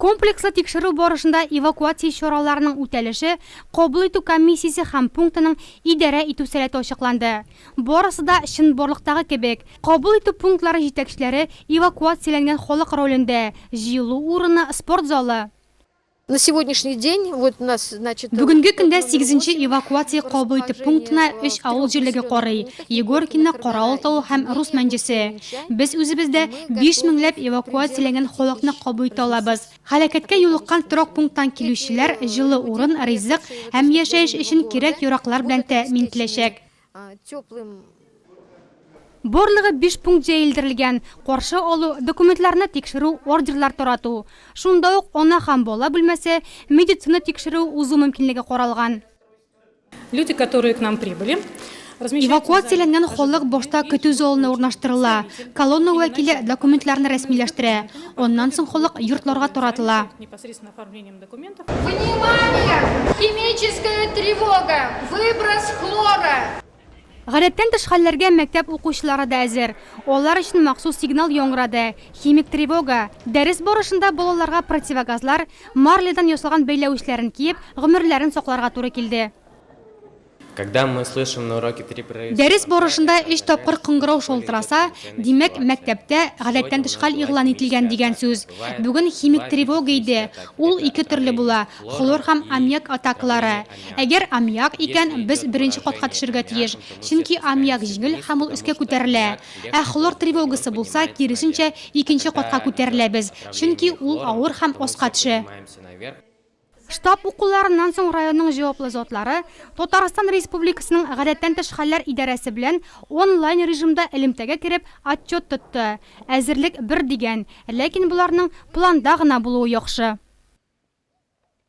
Комплекслы тикшерү барышында эвакуация чараларының үтәлеше, кабул итү комиссиясе һәм пунктының идарә итү сәләте ачыкланды. Барысы да чынбарлыктагы кебек, кабул итү пунктлары җитәкчеләре эвакуацияләнгән халык ролендә, җыелу урыны, спорт залы. Бүгенге көндә сигезенче эвакуация кабул итү пунктына өч авыл җирлеге карый, Егоркино, Каравыл тавы һәм Рус Мәнҗесе. Без үзебездә биш меңләп эвакуацияләнгән халыкны кабул итә алабыз. Һәлакәткә юлыккан торак пункттан килүчеләр җылы урын, ризык һәм яшәеш өчен кирәк-яраклар белән тәэмин ителәчәк. Барлыгы биш пункт җәелдерелгән, каршы алу, документларны тикшерү, ордерлар тарату. Шунда ук ана һәм бала бүлмәсе, медицина тикшерүе узу мөмкинлеге каралган. Люди, которые к нам прибыли, Эвакуацияләнгән халык башта көтү залына урнаштырыла. Колонна вәкиле документларны рәсмиләштерә. Аннан соң халык йортларга таратыла. Внимание! Химическая тревога! Выброс хлора! Гадәттән тыш хәлләргә мәктәп укучылары да әзер. Алар өчен махсус сигнал яңгырады, химик тревога. Дәрес барышында балаларга противогазлар, марлядан ясалган бәйләвечләрен киеп, гомерләрен сакларга туры килде. Дәрес барышында өч тапкыр кыңгырау шалтыраса, димәк, мәктәптә гадәттән тыш хәл игълан ителгән дигән сүз. Бүген химик тревога иде. Ул ике төрле була, хлор һәм аммиак атакалары. Әгәр аммиак икән, без беренче катка төшәргә тиеш, чөнки аммиак җиңел һәм ул өскә күтәрелә. Ә хлор тревогасы булса, киресенчә, икенче катка күтәреләбез, чөнки ул авыр һәм аска төшә. Штаб укуларыннан соң районның җаваплы затлары Татарстан Республикасының Гадәттән тыш хәлләр идарәсе белән онлайн режимда элемтәгә кереп отчет тотты. Әзерлек бер дигән, ләкин боларның планда гына булуы яхшы.